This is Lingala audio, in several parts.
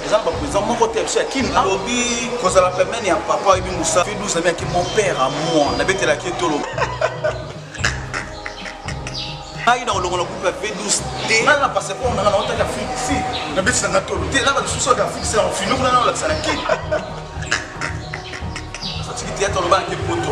eza na baprésident moko te biso ya kin alobi kozala pembeni ya papa oyebi mosa fidus amiyaki mon père à moi nabetelaki etolo ngai na kolongola groupe ya v12 te ngai na passeport nanga naotaki afrique si nabetisa nga tolo te na balisusu oyo afrique sela ofini kuna na olakisa na kini satiki teyata olobaki poto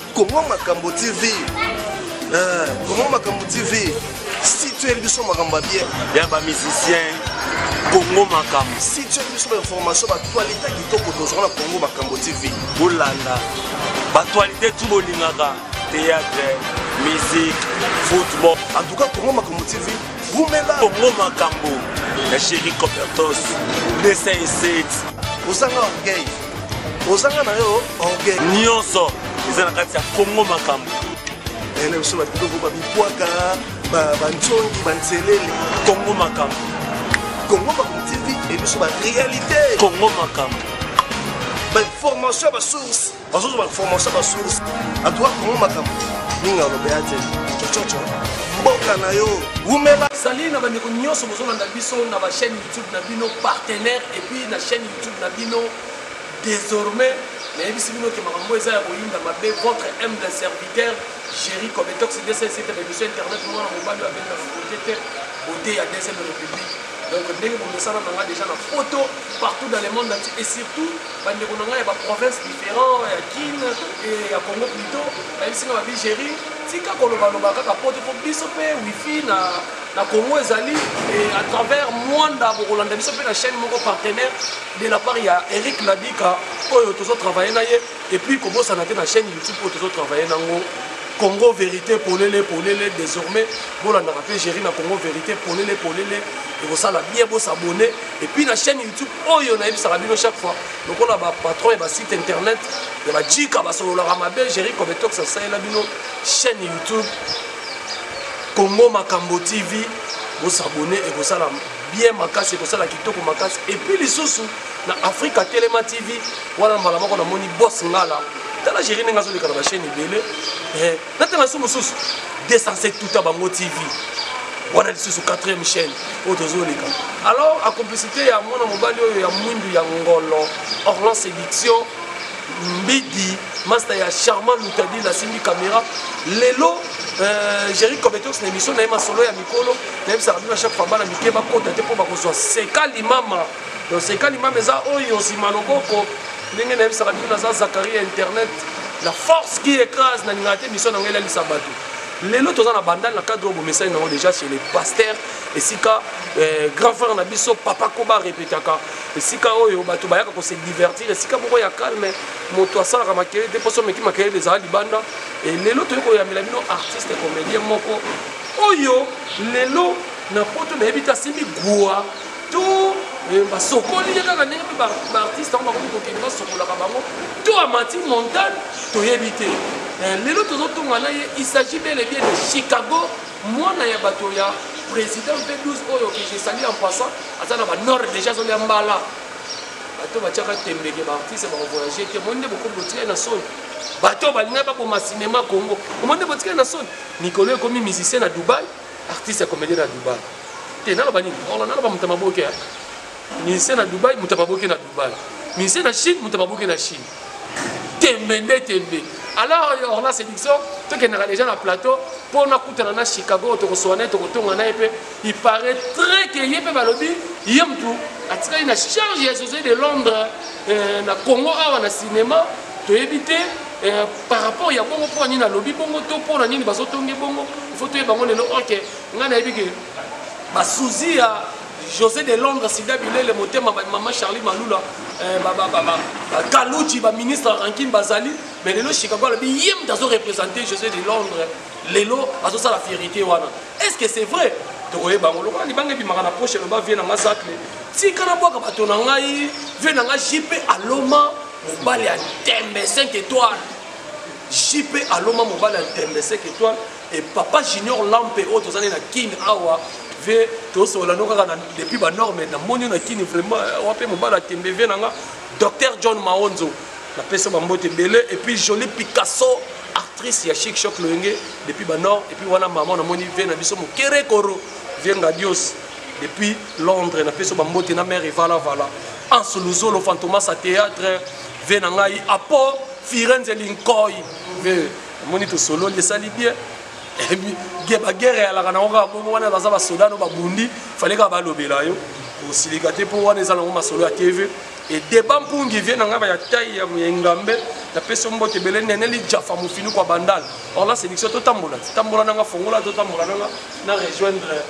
Congo Makambo TV. Euh, Congo Makambo TV. Si tu es biso makambo ya bien. Ya ba musiciens. Congo Makambo. Si tu es biso ba information ba actualité kitoko tozwa na Congo Makambo TV. Bolanda. Ba actualité tout bolingaka. Théâtre, musique, football. En tout cas Congo Makambo TV. Vumela. Congo Makambo. La chérie Copertos. 207. Osanga orgueil. ozanga na yo orgueil nyonso eza na kati ya kongo makambo eh, na biso babiloko babibwaka banzongi banzelele kongo makambo kongo makambo tv ebiso barealité kongo makambo bainformation ya basource bazozwa bainformation ya basource atoka kongo makambo mingi alobela te cococo mboka na yo wumela sali na bandeko nyonso bozolanda biso na bachaîne youtube na bino partenaire epuis na chaîne YouTube na bino desormais nayebisi bino ke makambo eza ya koyinda mabe votre humble serviteur Jerry Cometox DSA esi ete baemission internet mwana mobali oyo abeli na fokote te bote ya DSA de République donc ndenge bomesana na ngai déjà na poto partout dans le monde entier et surtout bandeko na ngai ya baprovince différent ya kin et ya congo plutôt bayebisi ngai babi géri tika kolobaloba kaka poto mpo biso mpe wifi na na Congo ezali et à travers Mwanda bokolanda biso mpe na chaîne moko partenaire de la part ya Eric Ladika oyo tozo travailler na ye et puis kobosana te na chaîne YouTube oyo tozo travailler nango Congo vérité polele polele désormais bolandaka mpe géri na Congo vérité polele polele ekosala bien bosabone et puis na chaîne YouTube oyo nayebisaka bino chaque fois lokola ba patron ya ba site internet ya bajika basololaka mabe géri cometox asalela bino chaîne YouTube Congo Makambo TV, bo s'abonner ekosala bien makasi, ekosala kitoko makasi. Et puis lisusu na Africa Telema TV, wana mbala moko namoni Boss Ngala. Tala jeri ndenge azoleka na ba chaîne ebele. Eh, natanga su mosusu 207 tuta bango TV. Wana lisusu 4e chaîne oyo tozoleka. Alors a complicité ya mwana mobali oyo ya mwindu ya ngolo, Orlan Séduction, Mbidi masta ya charmant lutadil asimbi camera lelo euh, jerry cobetox na émission na ye masolo ya mikolo nayebisaka bino chaque fois bana mike bakota te mpo bakozwa seka limama donc seka limama eza oyo nsima loboko ndenge nayebisaka bino naza zakari ya internet la force qui écrase nalingaka te émission na ngai elalisa bato lelo toza na bandal na cadre oyo bomesani nango déjà chez les pasteurs esika eh, grand frère na biso papa koba repetaka esika oyo bato bayaka kose divertir esika moko ya calme moto asalaka makele te mposo omeki makele ezala libanda e lelo toyei koyambela bino artiste comédien moko oyo lelo na poto nayebi te asimbi gua to e, basokoli ye kaka ndenge mpe baartiste yango bakomi kokende basokolaka bango to amati montagne toyebi te e, lelo tozotonga na ye il s'agit bel et bien de chicago mwana ya bato ya président mpe 12 oyo que je sali en passant aza na banord déjà azolia mbala Bato batiaka tembe ke ba artistes bako voyager te, omoni nde bokomi botikali na soni. Bato balingaki baboma cinema Congo, omoni nde botikali na soni. Mikolo oyo ekomi musicien na Dubaï, artiste ya comedien na Dubaï. Te naloba nini? Olo naloba moto ya maboke. Musicien na Dubaï, moto ya maboke na Dubaï. Musicien na Chine, moto ya maboke na Chine. tembe nde tembe alors orna séduction tokendaka déjà na plateau mpo nakutana na chicago oyo tokosowa na ye tokotonga na ye mpe il paraît très ke ye mpe balobi ye motu atikali na charge ya josé de londres euh, na congo awa na cinéma toyebi te euh, par rapport ya bongo mpo na nini alobi bongo to mpo na nini bazotonge bongo il faut toyeba yango lelo oke ngai nayebi ke basuzi ya José de Londres, Sida Bilele, Motema, ba maman Charlie Malula, eh, ba, ba, ba, ba, ba, Kaluji, ba ministre Rankin Bazali, mais lelo Chicago alobi ye moto azo représenter José de Londres, lelo azosala fierité wana. Est-ce que c'est vrai? tokoyeba yango lokola libanga ebimaka na poche eloba vie na nga zacle tika na bwaka bato na ngai vie na nga jp aloma mobali ya tembe 5 étoile jp aloma mobali ya tembe 5 étoile Et papa junior lampe oyo toza na kin awa vie tosolola no kaka depuis ba norme na moni na kin vraiment eh, wape mobala tembe vie na nga docteur john maonzo na pesa ba mbote ebele et puis jolie picasso actrice ya chic choc loyenge depuis ba nord et puis wana maman na moni vie na biso mokere koro vie ngadios depuis londres na pesa ba mbote na mère evala vala anso luzolo fantomas a théâtre vie na ngai apo firenze linkoi vie omoni tosololi esali bien eh, bagere eyalaka nango kaka bongo wana baza basoda no babundi fale kaka balobela yo kosilika te mpo wana eza nango masolo ya tv edeba mpungi vie na ngai ya tai ya engambe napesi yo mbote ebele neneli jafa mofini kwa bandal orla séduction totambola tambola nanga fongola totambola nanga na rejoindre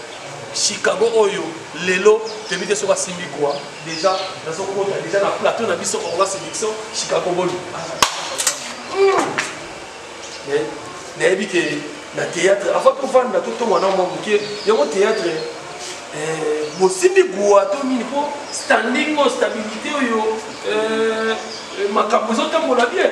chicago oyo lelo toyebi te soki asimbi kwa Dejà nazo kota dejà na plateau na biso Congo Séduction Chicago Boni. Mais nayebi que na théâtre avant tovanda totonga na mwa moke yango théâtre eh, bosimbi gua to nini mpo standing oyo stabilité oyo eh, eh, makambo ezotambola bien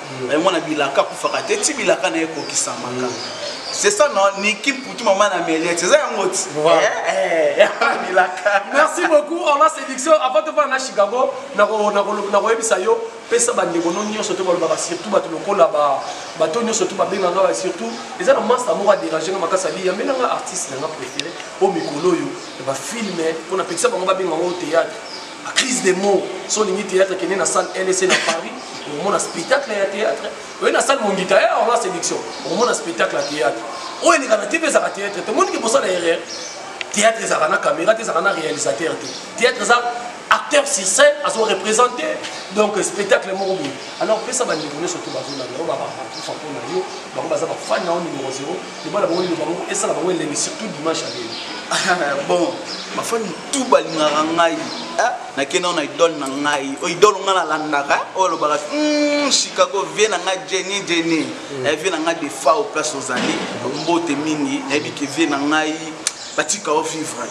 eh, mwana bilaka akufaka te ti bilaka na ye ekokisamaka c'est ça non niki mputu mama na meliette eza yango ti eh, eh, bilaka merci beaucoup orla séduction avant tofana na chicago nakoyebisa yo pesa bandeko no nyonso to balobaka surtout bato lokola bato nyonso to babenganga surtout eza na masta moko adérange nga makasi ali yambelanga artiste nanga préféré o mikolo oyo ya bafilme mpo na pekisa bango babenga yango théâtre crise de mot so olingi théâtre kende na salle lc na paris okomona spectacle ya théâtre oye na salle mongita ya orla séduction okomona spectacle ya théâtre oyo eleka na tv ezaka théâtre te omoniki bosala erreur théâtre ezaka na caméra te ezaka na réalisateur te théâtre eza acteur sur scène azo représente donc spectacle moko boye alors pesa bandeko nyonso to bazolanda yo babakufa mpo na yo bango baza bafani na yo numero 0 loba na bango liloba moko esala bango elengi surtout dimanche ya lelo ah, bon bafani tu balingaka ngai ah, nakenda na idole na ngai oyo idole ngai nalandaka eh, oyo alobaka hmm, chicago vie na ngai jeni jeni hmm. eh, vie na ngai defa o place ozali mbote mingi nayebi ke vie na ngai batika o vivre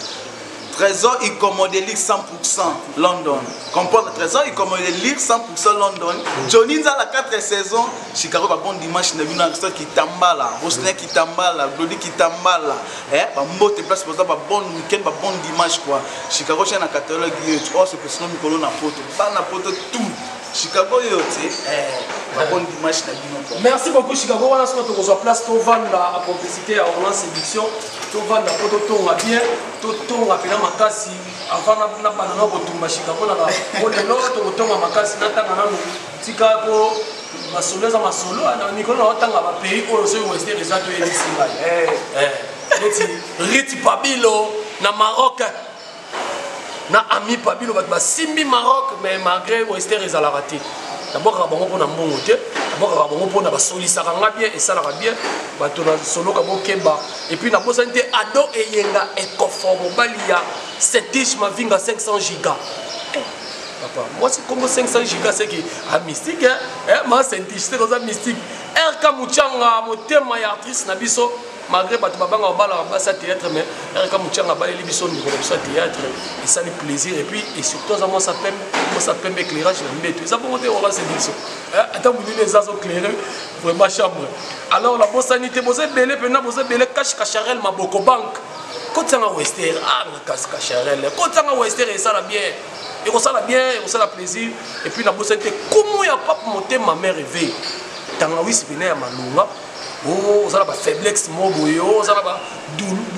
Trésor Ikomodelic 100% London. Comprendre Trésor Ikomodelic 100% London. Johnny Nzala 4 saisons. Chicago ba bon dimanche na bino Aristote Kitambala, Rosner Kitambala, Glody Kitambala. Eh ba mbote place boza ba bon week-end, ba bon dimanche quoi. Chicago chez na catalogue yetu. Oh c'est que sinon mikolo na poto. Bana poto tout. Chicago yo te eh bakoni dimanche na bino po merci beaucoup Chicago wana soki tokozwa place tovanda a complicité ya Orlan séduction tovanda po totonga bien totonga pena makasi avant na bana na kotumba Chicago na po lelo tokotonga makasi natanga nanu tika po masolo eza masolo na mikolo na otanga ba pays oyo soki wester eza toyebisi ngai eh eh neti riti pabilo na Maroc na amipa bino bato basimbi maroc mais malgré wester ezalaka te nabwakaka bango mpo na mbongo te nabwakaka bango mpo na basolisaka nga bien esalaka bien bato nasoloka bokeba epuis nabosani te ado eyenga ekofo mobali ya setige mavinga 500 giga eh, papa mwasi kongo 500 giga seke a ah, mystique eh, eh, ma setige seke oza mystique rk muchanga motema ya artiste na biso malgré bato babanga babalaka basi ya théâtre mais erika mucanga abaleli biso ndeko na biso ya théâtre esali plaisir et puis et surtout aza mwasa pembe mwasa pembe éclairage na mbeto eza bongo te obazi biso ata molili eza azo claire vraiment chambre alors la bosani te boza ebele mpena boza ebele cache cacharel maboko banque kotisanga wester ah na cache cacharel kotisanga wester esala bien ekosala bien ekosala plaisir et puis nabosani te komo ya pape motema mère eve tangawisi mpena ya malonga oh, oza na ba faiblesse moko boye oh, oza na ba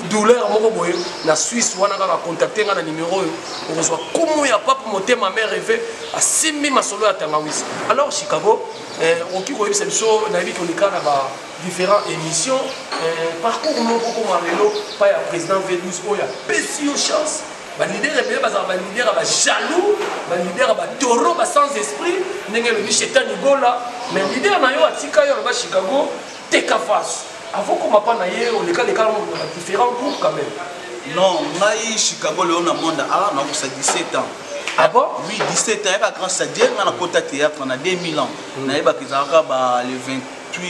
douleur moko boye na suisse wana kaka contacte ngai na nimero oyo okozwa kumu ya pape motema mare eve asimbi masolo ya tangawisi alors chicago eh, okoki koyebisa biso nayebi koleka na ba différents émissions eh, parcours moko kokoma lelo pa ya président v12 oyo apesi yo chance ba leader ebele bazala ba leader ya ba jaloux ba leader ya ba taureau ba sans esprit ndenge elobi shetani gola mais leader na yo atika yo aloba chicago teka face avant koma pa na ye oleka leka na ba différents groupes quand même non ngai chicago leo na monde a na kosa 17 ans Ah bon Oui, 17 ans, il y a grand stadier, on a côté théâtre, on a 2000 ans. On a eu le 20. 28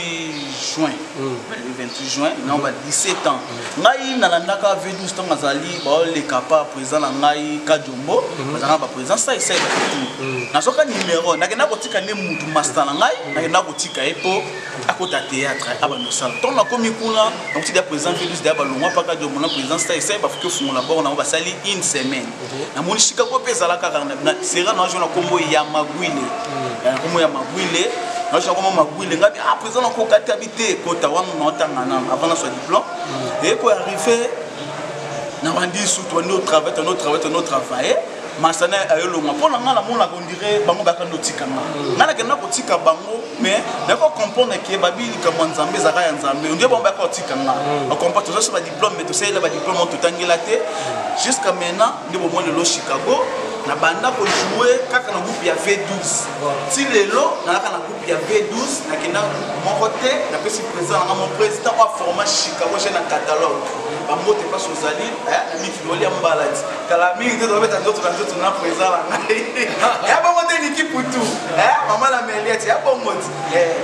juin le 28 juin na ba 17 ans ngai nalandaka v12 ntango azali baoleka pa président na ngai kajombo bazalaka ba président saisai nazwaka numero nakenda kotika nde mutu masta na ngai nakenda kotika ye mpo akota théâtre abanda osala ntango nakomi kuna nakotika président v12 daya balongwa pa kajombo na président saisai bafuki ofungola bor nango basali une semaine namoni sika ko mpe ezala kaka sera nazo na nkombo ya magwile mm. eh, nkombo ya magwile nazo na nkombo magwile ngai ah président nakoka te abi te kota wana naotanga nano avant naswa diplôme mm. eko arrive na bandi sutu bandi otravaille tandi otravaille tandi otravaille masana ayolonga mpo na ngai namonaka ondire bango baka ndotika nga mm. ngai nakenda kotika bango mais nako comprendre ke babi likambo ya nzambe ezalaka ya nzambe ondire bango baka otika nga bakompa tozosoba diplôme mais tosalela ba diplôme oyo totangela te jusqu'à maintenant nde bomoi lelo chicago na banda kojoue kaka na groupe ya v12 ti lelo nalaka na groupe ya v12 nakenda groupe moko te napesi président nanga mon président oyo aforma chicago je na catalogue bambote mpasi ozali na mikiloli ya mbala ti kala mingi te tobeta nzoto na nzoto na président na ngai ya bongo te niki putu mama na meliati ya bongo ti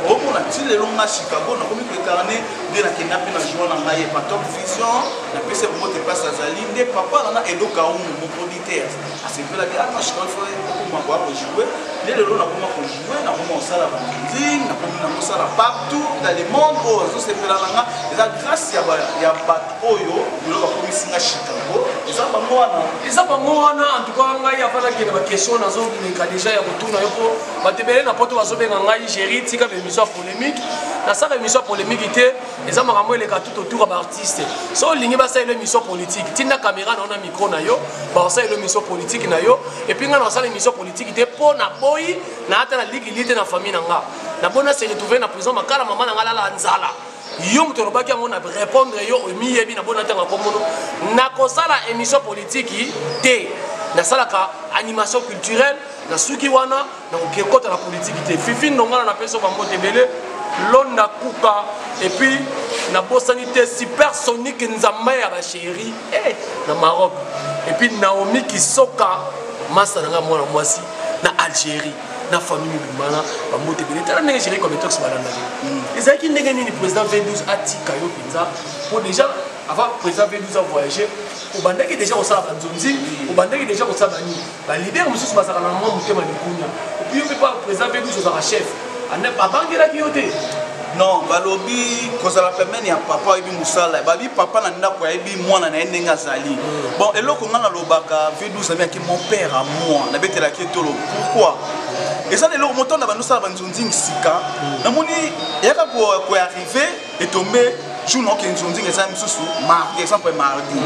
omona ti lelo nga chicago nakomi koekarne nde nakenda mpe na jour na ngai epa top vision napesi bomote place azali nde papa nana edo kaumu moproditeur asepelaki atashikofoe ah, okoma koya kojoue nde lelo nakoma kojoue nakoma kosala banding nakomi na kosala partout dans le monde oyo oh, azosepela na nga eza grâce ya bato oyo lelo bakomisi nga chicago eza bango wana eza bango wana antuka ngai afalaki na baquestion nazoleka deja ya kotuna yo mpo bato ebele na poto bazobenga ngai géri tika bemission polemique nasaka émission ya polemique te eza makambo eleka tout autour ya baartiste so olingi basalela émission politique tinda caméra na yo na micro na yo bakosalela émission politique na yo epuis ngai nakosala émission politique te mpo naboyi naata na ligili te na famille na nga naboyi na se retrouve na prison makala mama na ngai alala nzala yo moto olobaki yango na répondre yo omiyebi na bona ntango akomono nakosala émission politiki te nasalaka animation culturelle nasuki wana donc ekota na politiki te fifi ndongana na peso bambote ebele londa kuka epuis nabosani te supersonique nzambe ya basheri eh, na maroc epuis naomi kisoka masa na ngai mwana mwasi na algérie na famille mibimana bambote ebele tala ndenge géri cometox balandaki hmm. ezalaki ndenge nini président v12 atika yo mpenza mpo déjà avant président v12 avoyage obandaki déjà kosala banzonzi obandaki déjà kosala banini Ba leader mosusu bazalaka na mwa motema likunya. Puis yo mpe pa président mpe biso ozalaka chef. Abangelaki yo te. non balobi kozala pembeni ya papa oyebi mosala babi papa na ndako ayebi mwana na ye ndenge azali mm. bon eloko ngai nalobaka vie 12 ami yaki mon père à moi nabetelaki etolo pourquoi eza na eloko motonda bandosala banzonzingi sika mm. namoni eyaka koarrive etombe jour naoke nzonzinga eza misusu mardi exemple mardi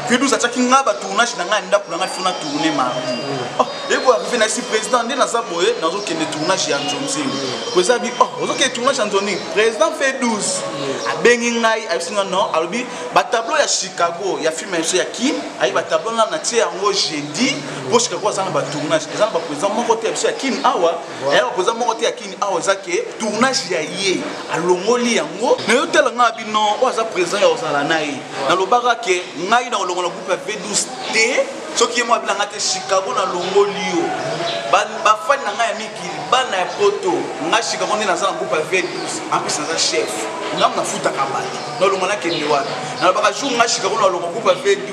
kidus mm. atiaki nga batournage na ngai ya ndako na ngai fona tourne mardi mm. oh, eko arrive na esi président nde naza boye nazokende tournage ya nzonzinga po eza bi oh, ozokende tournage ya nzonzinga président fe 12 mm. abengi ngai ayebisi nga non alobi batableau ya chicago ya film ya biso ya kim ayi batableau nga natie yango jeudi po chicago aza na batournage eza na baprésident moko te ya biso ya kim awa naye bapoza moko te ya kini awa eza ke tournage ya ye alongoli yango na yo tala ngai bino oyo aza président ya kozala na ye nalobaka ke ngai na kolongola groupe ya v12 te soki ye moko abina ngai te chicago nalongoli yo bafani na ngai ya mikili bana ya poto ngai chicago nde naza na groupe ya v12 amplis naza chef ngai nafutaka bato nalongola nakende wana nalobaka jour ngai chicago nalongo groupe ya v12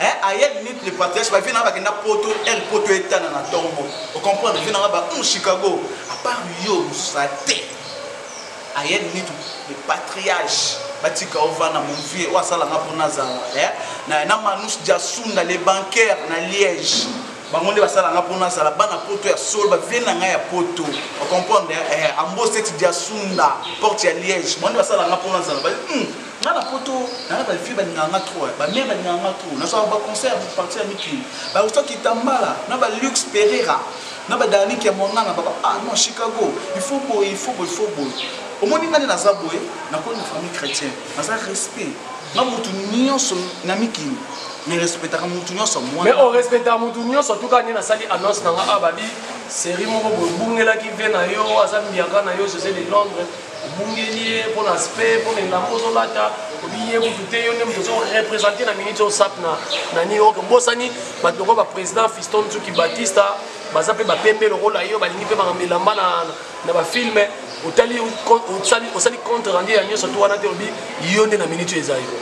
Hein, à hier minute le patriarche ba vie na bakenda poto, el poto etana na tombo. Au comprendre vie na ba un Chicago, à part yo ça te. À hier minute le patriarche batika ovana mon vieux oyo asalanga mpo nazala eh? na, na manus jasunda le bancaire na liège bango nde basala nga mpo nazala bana poto ya solo bavie na ngai ya poto ocomprendre eh, amboseti diasunda porte ya liège bango nde basala nga mpo nazala hmm. Nga na poto na na ba vieux ba lingaka nga trop ba mère ba lingaka nga trop na zwa ba concert ba partir ya mikili ba usa kitambala na ba luxe pereira na ba dynamique ya mwangana ba ah non chicago il faut boye il faut boye il faut boye omoni nga nde naza boye nakoli na famille chrétienne naza respect nga mutu nyonso na mikili mais respectaka mutu nyonso mwana mais orespectaka mutu nyonso tuka nde nasali annonce na nga awa babi série moko boye obungelaki vie na yo aza mbiaka na yo josé de londres obungeli ye mpo na aspect mpo na elamba ozolata obi ye kutu te yo nde moto ozorepresente na minute osap na na new york obosani bato lokola baprésident fiston nsuki batista baza mpe bapembe lokola yo balingi mpe makambo elamba na bafilme otali osali contre rendu ya nyonso to wana te obi yo nde na minute oyo eza yo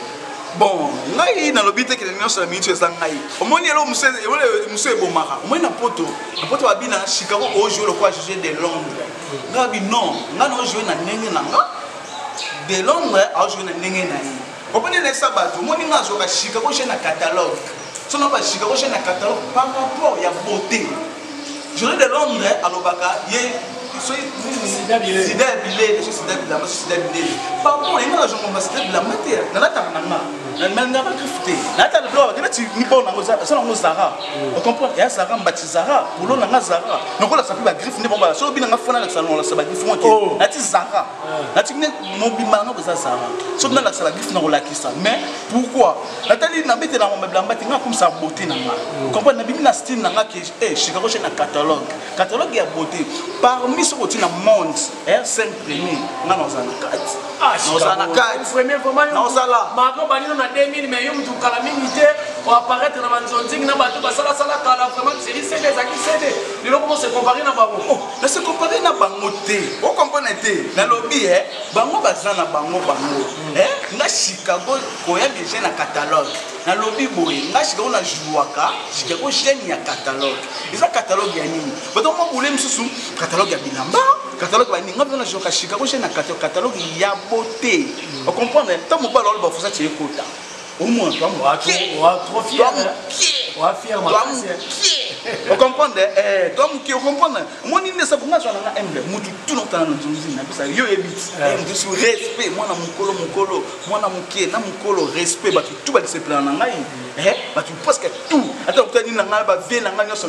bon ngai nalobi te kende nyonso na minute eza ngai omoni elo mosu ebomaka omoni na poto na poto babina chicago ojoue lokola juge de londres Gabi non, nga na jouer na ndenge na nga. De Londres a jouer na ndenge na ye. Opone na sa bato, moni nga zo ka shika ko na catalogue. So na ba shika ko na catalogue par rapport ya beauté. Jouer de Londres alobaka ye sida bile sida bile sida bile par rapport ye nga zo ko sida bile mate na la tanga na nga. nandimani nga bakristu te nayata lelo bakende nati mibao nango eza nango zara hmm. ocomprendre ya zara mbati zara bolo na nga zara nokolakisa mpe bagriffe nde bombala soki bina nga fona lakisa nolakisa bagriffe ngo te oh. nati zara hmm. nati ne mobimba nango eza zara soki nalakisa bagriffe nakolakisa mais pourquoi natali nabete nango mabilamba te nga akomisa bote na nga hmm. ocomprendre nabimi na style na nga ke eh, chicago che na catalogue catalogue ya bote parmi soki oti na monde Eh, cinq premier nga naoza na kati ah, naoza na kati naoza la mako banino na 2000 mais yo mutu kala mingi te oapparaître na banzonzingi na bato basalasala kala vraiment seri sede ezalaki sede lelo koma se compare na bango oh, na se compare na bango te okomprane te nalobi e bango baza na bango bango hmm. eh, nga chicago koya deje na catalogue nalobi boye nga chicago na jouaka chicago chaine ya catalogue eza catalogue ya nini bato mwa bule mosusu catalogue ya bilamba catalogue baninga mpona joka chicago je na catalogue ya bote mm. ocomprendre ntango mobala oloba fosa tie ekota omona twa mokie ocomprendre twa mokie ocomprendre omoni nde sabu nga zwana nga emble motu tuna otana na nzonzi na bisa yo oyebi eh. motusu respect mwana mokolo mokolo mwana mokie na mokolo respect bato tu badisepelana na ngai mm. eh, bato presque tout ata okutani na ngai bavie na ngai nyonso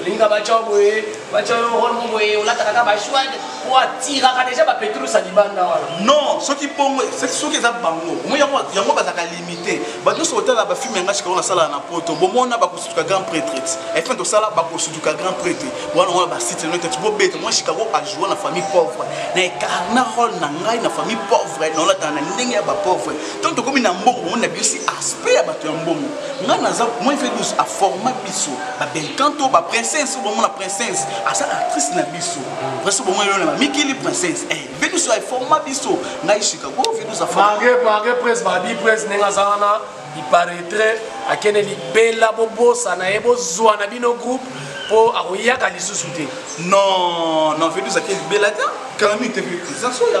olinga batya yo boye batya yo role mo boye olataka ka bashwade po atiraka deja bapetrus ya libanda wana non soki bongo soki eza bango yango bazalaka limite bato nyonso kotala bafilme yanga sikayo nasalaka na poto bomona bakosutuka grand prêtre efin tosala bakosutuka grand prêtre wana wana basite no tati bobeta mwa chicago ajoua na famille pauvre na ecarna role na ngai na famille pauvre naolataka na ndenge ya bapauvre ntango tokomi na mbongo bomoni na biso aspect ya bato ya mbongo ngai naza moi fe 12 aforma biso ba belcan to ba princesse oyo bomona princesse aza actrice na biso princesse bomona yo na ba mikili princesse eh bino so forma biso ngai chicago vino za forma mange mange prince ba bi prince nenga za wana il paraîtrait akende libela bobosa na ye bozwa na bino groupe po akoyaka lisusu te non non vino za ke libela ta kala mi te vino za soya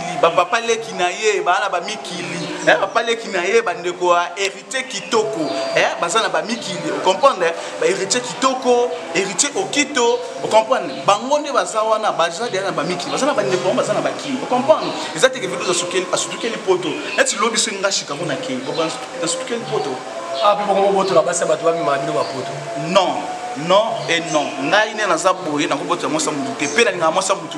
mikili bapapa leki na ye baa na bamikili eh, papa leki na ye bandeko ya héritier kitoko eh, baza na bamikili ocomprendre eh, bahéritier kitoko héritier okito ocomprendre bango nde baza wana baza deya na bamikili baza na bandeko yango baza na bakili ocomprendre eza teke vido asutukeli poto neti lobi so nga chicago na kei nasutukeli poto ape ah, bongo bobotola basi ya bato bamemaka bino bapoto non non et non ngai nde naza boye nakobotela mwasi ya motu te mpe nalingaka mwasi ya motu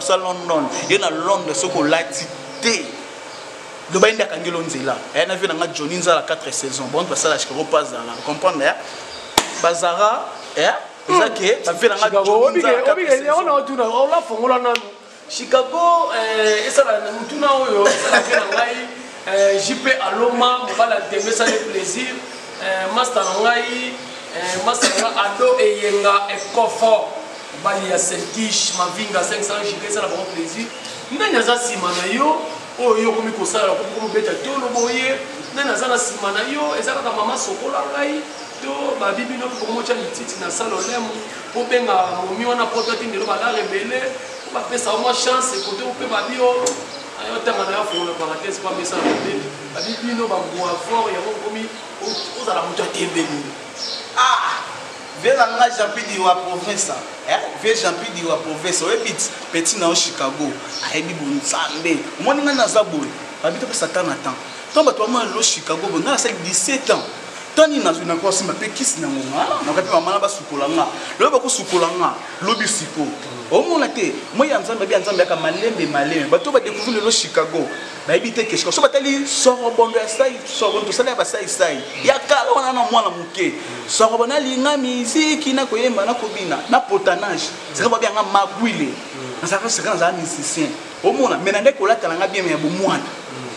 Sa London ye na Londres soki olati te loba ende akangelo nzela aya na vie na nga Johnny nzala 4 saison bon basala chikako pa zala comprendre ya bazara eh eza ke ba vie na nga Johnny nzala 4 saison ona otuna ola fongola nanu Chicago eh, esala na mutuna oyo esala pe na ngai eh, JP Aloma mobali ya Ntembe esali plaisir eh, masta na ngai masta na ngai Ado Eyenga Ekofo Mobali ya Selkish Mavinga 500 giga esala bango plaisir. Nani aza nsima na yo oyo yo okomi kosala okomi komobeta tolo boye? Nani aza na nsima na yo? Eza kaka mama sokola ngai to babi bino mpe bokomotya lititi na sala olemo obenga momi wana poto atindelo balare ebele po bapesa yo mwa chance kote mpe babi yo ayotanga na yo afongola parenthèse mpo amesana mabe babi bino bambua fort yango okomi ozala moto ya tembe nini ah Vieux na nga Jeanpidi wa province eh vieux Jeanpidi wa province oyebi petit na yo Chicago ayebi bo nzambe omoni nga naza boye babi to pesa temps na temps to bato ba mwana lo Chicago bo nga nasali 17 ans temps nini nazwi na kosimba mpe kisi na ngonga nakoka mpe mama na basukola nga lobi bakosukola nga lobi siko omona te moi ya nzambe abi ya nzambe yaka malembe malembe bato badekouvri lelo chicago bayebi te keshika so batali sorobondo ya sai sorobondo tosala ya basai sai ya kala wana na mwana moke sorobondo alinga miziki na koyemba na kobina na potanage sika babianga magwile nazalaka sika nazala musicien omona me na nde kolatala nga bien me ya bomwana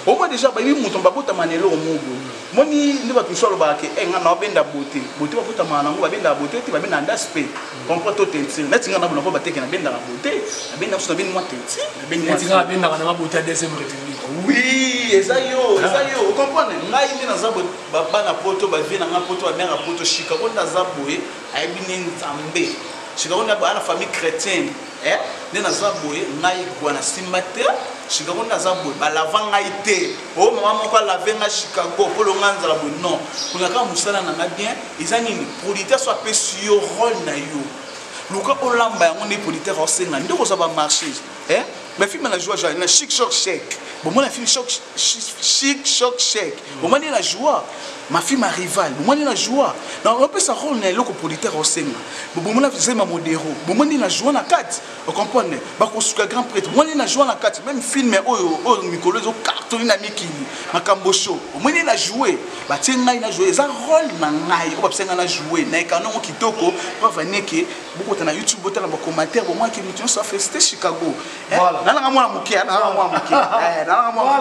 omona deja bayebi moto babotama na eloko mogo moni nde bato mosusu alobaka ke eh, nga na babenda bote bote babotamaka nango babendaka bote te babendaka ndasi mpe comprend to teinture neti nga nabona po bateke nabendaka bote nabendaka mosusu nabeni mwa teinture nabeni nga nabendaka nanga bote ya deuxième république oui eza yo ah. eza yo okomprendre ngai nde naza boye bana poto bavie na nga poto bamere ya poto shika oyo nde aza boye ayebi nde nzambe shika oyo nde abaya na famille chrétienne eh? nde naza boye ngai gwa na simba te chicago nde aza boye balava ngai te o oh, mama moko alave ngai chicago polonga nzala boye non kolaka mosala na ngai bien Eza nini producteur so apesi yo role na yo luka olamba yango nde producteur aosenga nde okozwa ba marché eh? mais film na joie joie na chic choc chèque bomona film choc chic choc chèque bomoni na joie ma film arrival bomoni na joie na opesa role na eloko producteur aosenga bomona zema modero bomoni na joie na kati ocomprendre bakosuka grand prêtre omoni na joue na kati meme filme oyo oyo mikolo ezo cartoni na mikili makambo sho omoni na joue batie ngai na joue eza role na ngai oyo bapesa ngai na joue na ekanongo kitoko preuve aneke bokota na youtube botala bacommentaire bomwaki moto nyonso afesite chicago eh, nalanga mwana moke eh, nalanga mwana moke eh, nalanga mwana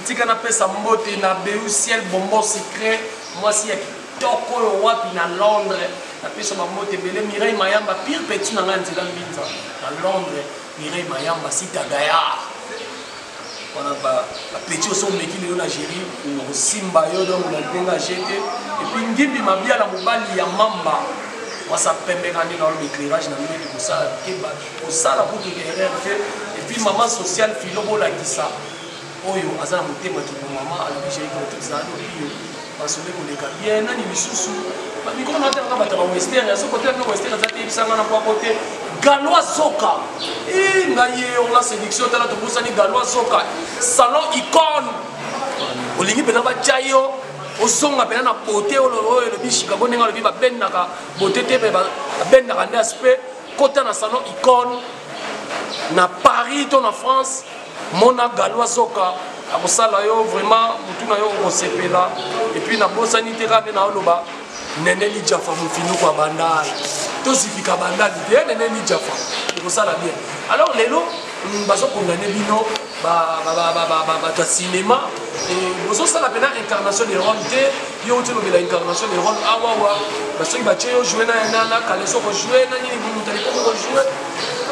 tika napesa mbote na beu ciel bonbon secret mwasi ya Top oyo wapi na Londres na pesa ba mbote ebele Mireille Mayamba pire petit na ngai nzela mbinza na Londres Mireille Mayamba sita gayard wana ba petit oso omeki lelo na géri okosimba yo donc na ndenge ajete epuis ngimbi mabiala mobali ya mamba wasa pembe kani na oloba éclairage na ndenge kosala keba kosala kutu erreur te epuis mama sociale filo bolakisa Oyo aza na motema kibo mama alobi j'ai compris ça no pio masolo ekoleka bien nani lisusu bamikolo na tanga bato ba western ya soko te mpe western aza te yebisanga na kwako te galois zoka i ngai ye onga séduction tala tobosani galois zoka salon icone olingi mpenza batya yo ozonga mpenza na bote oyo elobi chicago ndenge alobi babendaka bote te mpe babendaka nde aspect kota na salon icone na paris to na france mona galwa soka akosala yo vraiment mutu na yo okosepela epuis nabosani te kaka nde naoloba nene lijafa mofinuku ya bandal tozipika bandal te ye nene lijafa ekosala bien alors lelo mm, bazokondane bino bato ya cinéma bozosala mpena incarnation de rome te yo outi lobela incarnation de rome awawa ah, basoki batye yo joue na kaleso kojoue na nini momoto alikomi kojoue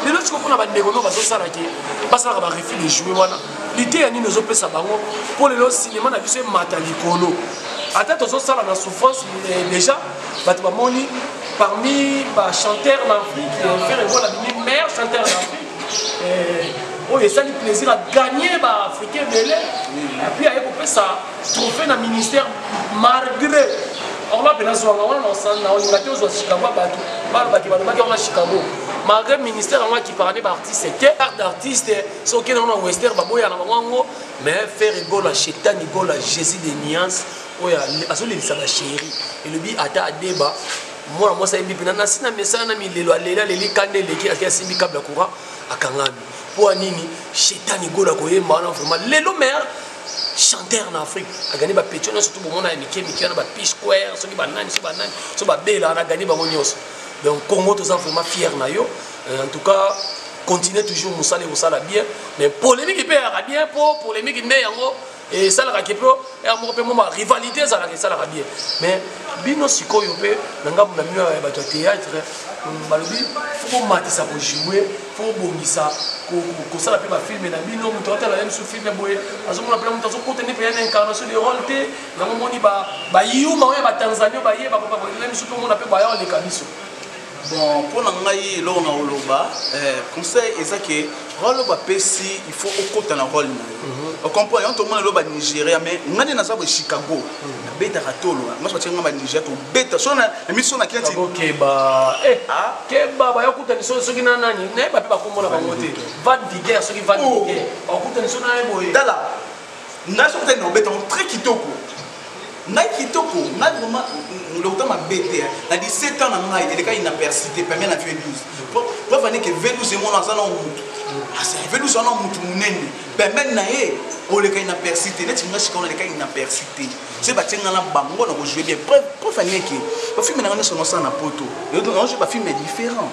lelo sikoyo mpona bandeko no bazosala te basalaka barefus de joue wana liteya nini ozopesa bango mpo lelo sinema na biso emata likolo ata tozosala na souffrance eh, déjà bato bamoni parmi bachanteur na afrique eh, fere egola bimi maire chanteur na afrique eh, oyo esali plaisir aganye baafricain ebele puis aye kopesa trophée na ministère malgré orla mpe nazwanga wana naolinga te ozwa chicago ya bato balobaki balobaki yango na chicago malgré ministère yango akipaka nde baartiste te art d'artiste soki nango na wester baboya na bango yango mais faire egola chetani gola jésus de nuance oyo azolelisa bachéri elobi ata adeba mwana mwasi ayebi mpena nasi na mesana na milelo alela leli kanda eleki ake asimbi kable ya courant akangami Mpo ya nini Shetani Gola koyemba wana vraiment lelo meilleur chanteur na Afrique agani ba petio nyonso to bomona ya mike mike wana ba P Square soki ba nani soki ba nani soki ba bela wana agani bango nyonso donc Congo toza vraiment fier na yo euh, en tout cas continuer toujours mosala ekosala bien mais polémique mpe eyaka bien mpo polémique nde yango esalaka ke mpo ya moko mpe moma rivalité ezalaka esalaka bien mais bino sikoyo mpe na ngambo na bino ya bato ya théâtre mm, balobi fo komatisa kojoue fo kobongisa kosala mpe bafilme na bino moto atala ye mosusu filme boye azomona mpena moto azokota nde mpe ya na incarnation de role te yango omoni bayuma oyo ya batanzanie baye bakobaye mosusu mpe omona mpe baya oleka biso bon mpo na ngai eloko na koloba eh, conseil eza ke role bapesi il faut okota na role na yo mhm. ocomprendre yango tomona elo banigeria mais ngai nde naza boye chicago mhm. nabetaka tolo nyonso batie ngai banigeria tobeta so na miso na keti keba eh, ah? keba baya kutani so soki na nani nayeba mpe bakombo na bango te van viguer soki van oh. viguer bakutani so na ye boye tala Ngai soki tali na obeta yango très kitoko. Ngai kitoko, ngai vraiment lokuta mabe te. Na 17 ans na ngai elekaki inaperçu te permis na vie 12. Po preuve ane ke vie 12 emona aza na mutu. Asa vie 12 wana mutu munene. Permis na ye oleka inaperçu te. Neti ngai sikawa na leka inaperçu te. soki batie ngai na bango na kojoue bien preuve aneke bafilme na ngai nyonso nosala na poto naojoue bafilme différent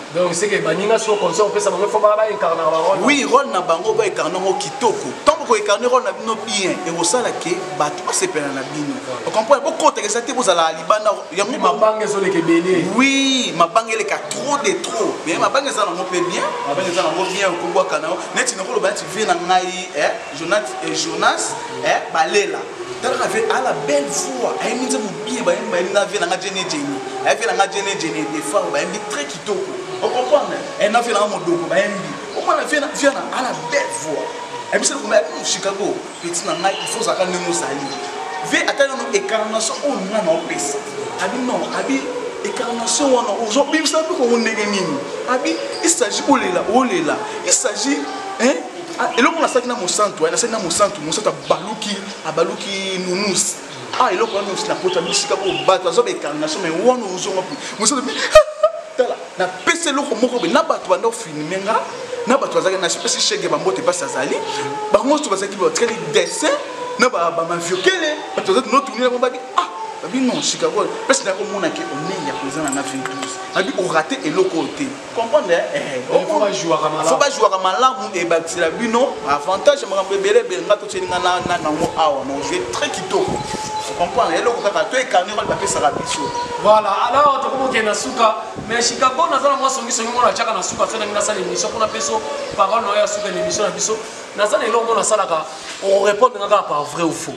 oui role na bango baekarne yango kitoko ntango koekarne role na bino bien ekosala ke bato basepela na bino ocomprendre bokotaka eza te bozalaka libanda yango mabanga ezoleka ebele oui mabanga eleka trop de trop mais mabanga eza nango mpe bien mabanga eza nango bien okobwaka na yo neti nakoloba neti vie na ngai eh? Jonas et eh, Jonas eh balela talaka ve ala belle voix ayembi nze mobiye bayembi bayembi na ve nanga jene jene aye ve nanga jene jene defar bayembi très kitoko okomprendre e eh, na ve nanga modoko bayembi omona ve na viana ala belle voix ayebisa lokoma ya bino chicago petit na ngai il faut ozalaka ndenge ozali ve ata nano écarnation oyo oh, ngai na opesa abi non abi écarnation wana ozobimisa mpe kongo ndenge nini abi il s'agit olela olela il s'agit hein Ah, eloko nasalaki na mosantu eh, nasalaki na mosantu mosantu abaluki abaluki nunus a ah, eloko wana nakota bisika oyo bato azoba ekanga so mai wana ozonga mosantu tala napesi eloko moko be na bato banda ofilme nga na bato bazalaki nasepesi shege bambote mpasi azali bango nyonso bazalaki batikali dessin na bamaviokele bato bazali notunela bango babi ah babi non chicago mpesi nakomonake omei ya koza na na 22 babi orate eloko oyo te comprendre faut bajouaka malamu ebakisela bino avantage ya makambo ebele ebele nga totyeli nga na nango awa na ojue très kitoko comprendre eloko kaka to ecarne wana bapesaka biso voilà alors tokomokende na suka mais chicago naza na mwa songisongi mona atyaka na suka fenangi nasala émission mpona peso parole na yo ya suka na émission na biso naza na eloko mona asalaka orepondre nga kaka par vrai ou faux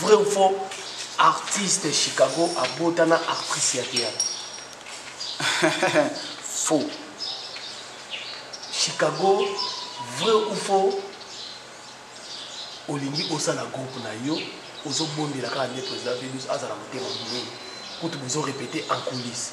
Vrai ou faux artiste Chicago abota na actrice ya théâtre Faux Chicago vrai ou faux olingi osala groupe na yo ozobondela kaka nde président Vénus azala motema monene kutu bozo répéter en coulisse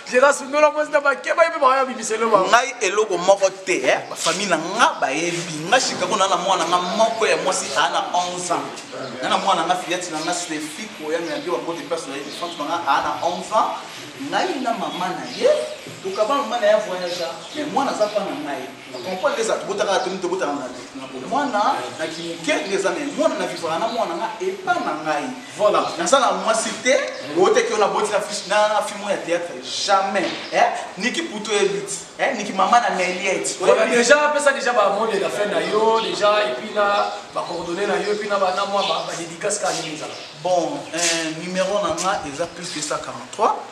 Jera sundola mwasi na bakeba yepe bakaya bimisele ba. Ngai eloko moko te eh ba famille na nga bayebi nga Chicago na na mwana nga moko ya mwasi a na 11 ans. Na na mwana nga fillette na nga Stephie ko ya na yo bango de place na ye France na nga a na 11 ans. Ngai na maman na ye tokaba maman na ya voyage mais mwana aza pa na ngai. Comprendre eza tobotaka na toni tobotaka na na bomwana na kimuke nde eza me mwana na vivaka na mwana nga epa na ngai voilà naza na mwasi te oteki ona boti na fiche na film ya théâtre jamais eh niki puto elite eh niki mama na meliette voilà déjà pesa déjà ba mode la fin na yo déjà et puis là ba coordonnées na yo et puis na ba na moi ba dédicace ka nini bon euh numéro na nga eza plus 243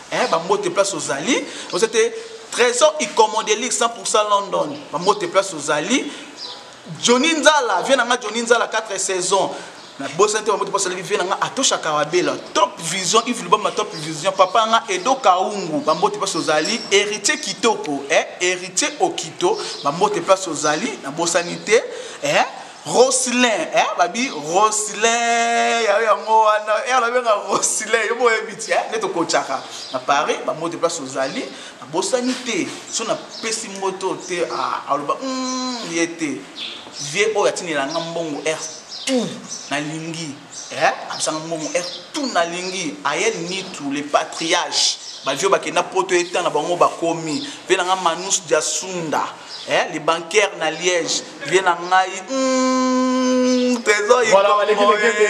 Eh ba mbote place ozali oza te Trésor Ikomodelic 100% London ba mbote place ozali Johnny Nzala viens nanga Johnny Nzala 4 saisons na bosani te ba mbote place ozali viens nanga Atosha Kawabela Top Vision Yves Lubamba Top Vision papa nga Edo Kaungu ba mbote place ozali Héritier Kitoko eh Héritier Okito ba mbote place ozali na bosani te eh Rosilin eh babi Rosilin ya yango wana eh la benga Rosilin yo boye biti eh neto kochaka na Paris ba mode place ozali na bosani te so na pesi moto te ah aloba mm yete vieux oyo atinela nga mbongo er tout na lingi Eh, absanga mbongo er tout na lingi ayel nitu le patriage ba vieux bakenda poto etan na bango bakomi vie na nga manus diasunda eh le bancaire na liège vie na ngai mm, trésor voilà baleki leke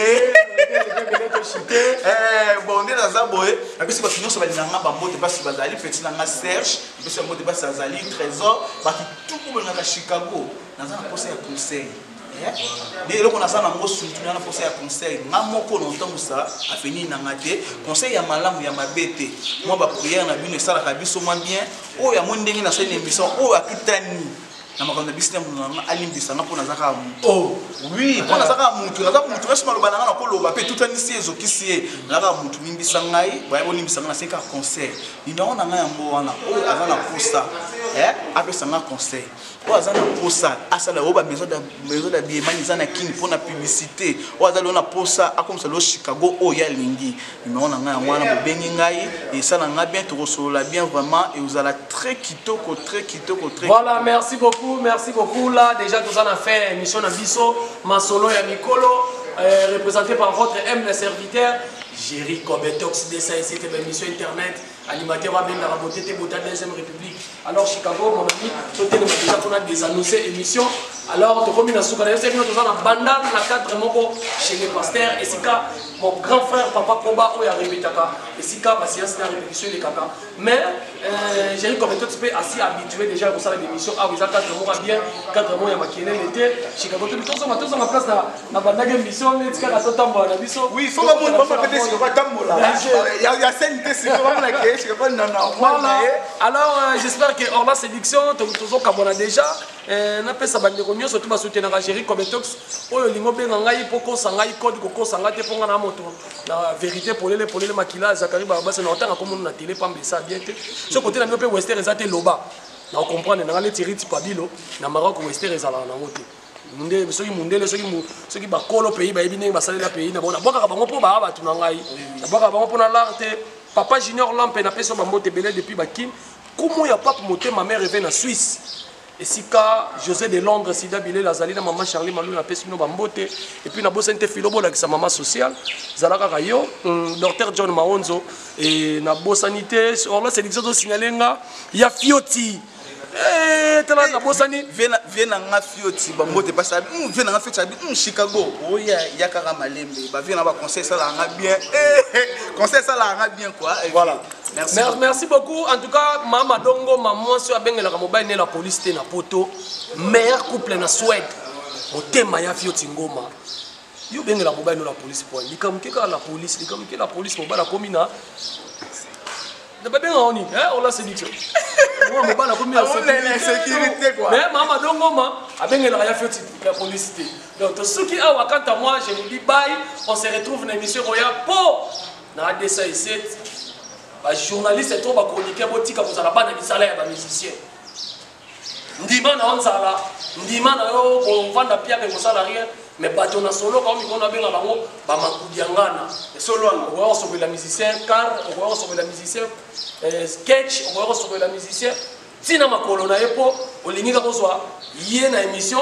eh, bon nde naza boye napesi bato nyonso balinga nga bambote basi bazali peti na nga serge napesi bambote basi azali trésor bato tuku bolingaka chicago naza na mposa ya conseil nde eloko naza nango surtout na mposa ya conseil nga moko na otambusa avenir na nga te conseil ya malamu ya mabe te mwa bapriere na bino esalaka biso mwa bien oyo amoni ndenge nasali na émission oyo akutani na makambo na bisi na mono nanga alimbisa nga mpo naza kaka moto oh, oui mpo naza kaka moto naza moto nyonso maloba na nga nakoloba mpe etutanisi ye ezokisi ye naza kaka moto limbisa ngai baya bolimbisa nga nasengi kaka conseil nimero na ngai yango wana oyo aza na mposa eh, apesa nga conseil oyo aza na mposa asala oyo bamaison dabiemani eza na kini mpo na publicité oyo aza lelo na mposa akomisa lelo chicago oyo ye alingi nimero na ngai yango wana bobengi ngai esala ngai bien tokosolola bien vraiment eozala très kitoko très kitoko très voilà merci beaucoup merci beaucoup là déjà toza na fin ya émission na biso masolo ya mikolo euh, représenté par votre aime le serviteur Jerry Kobetox, Dessa, etc. Mission Internet. Animateur wa benga ba bote te bota deuxième république. Alors Chicago mon ami, to tele ma déjà qu'on a des annoncés émission. Alors to komi na suka na yose bino toza na banda na cadre moko chez les pasteurs et sika mon grand frère papa Koba oya répétaka et sika ba séance na répétition les kaka. Mais euh, j'ai eu comme tout spé assez habitué déjà au salle d'émission. Ah oui, ça cadre moko bien, cadre moko ya makiene l'été. Chicago tout le temps on a tous en place là. nabandaki emission neti kaka totambola na biso oui fo bamoni bango mpe te sikoyo batambola ya seni te sikoyo bamona ke sikoyo bani na normal na ye alors euh, j'espère que orla séduction tozokabwana déjà euh, napesa bandeko nyonso to basoutenaka géri cometox oyo olingi obenga ngai mpo kosa ngai code kokosa ngai te mpo ngai na moto na vérité polele polele makila zakari babasa na otanga komono na tele pamba esa bien te so kote na bino mpe wester eza te loba na okomprendre na ngai neti riti pabilo na maroc wester ezalaka nango te mundele soki mundele soki soki bakolo pays bayebi ndenge basalela pays na bango nabwakaka bango mpo baa bato na ngai nabwakaka bango mpo na lar te papa junior lampe napesi yo bambote ebele depuis bakin kumu ya pape motema mare eve na suisse esika josé de londres sida bilela azali na mama charli malu napesi bino bambote epuis nabosani te filo bolakisa mama social zala kaka yo mm, docteur john maonzo e nabosani te orlas elixir tosignale nga ya fioti Eh, tala eh, nabosani vie na nga fioti bambote pasi abi hmm, vie na nga fioti abi hmm, chicago oya oh, ya kaka malembe bavie na baconseil esalaka nga bien eh, conseil esalaka nga bien kua voilà Merci. Merci, merci beaucoup. En tout cas, Mama Dongo, maman, si abengelaka mobile ne la police te na poto. Meilleur couple na Suède. Motema ya Fioti Ngoma. yo bengela mobali no na police po likambo ke kaka na police likambo ke na police mobali akomi na na babenga ngo nini eh, ola séduction mwa mobali akomi na sécurité mais mama dongoma abengelaka ya feti ya police te donc tosuki awa quant à moi je vous dis bye on se retrouve na émission koya po na adesa eset bajournaliste to bachroniqueur botika kozala bana misala ya bamusicien Ndima na yo nzala, ndima na yo kovanda pia pe kosala rien, mais bato na soloka omi kona benga bango ba makudiangana. Solo wana okoya kosopela musicien car, okoya kosopela musicien eh, sketch, okoya kosopela musicien tina makolo na ye po olingi kaka ozwa ye na emission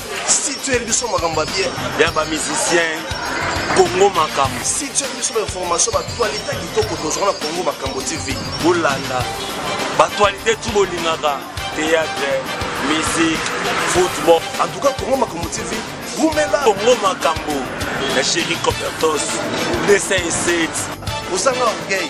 situel biso makambo ya bien ya ba musicien congo makambo situel biso bainformation batualite kitoko tozwa na congo makambo tv bolanda batualite tu bolingaka théâtre musique football en tout cas congo makambo tv wumela congo makambo na chéri copertos 207 ozanga orgueil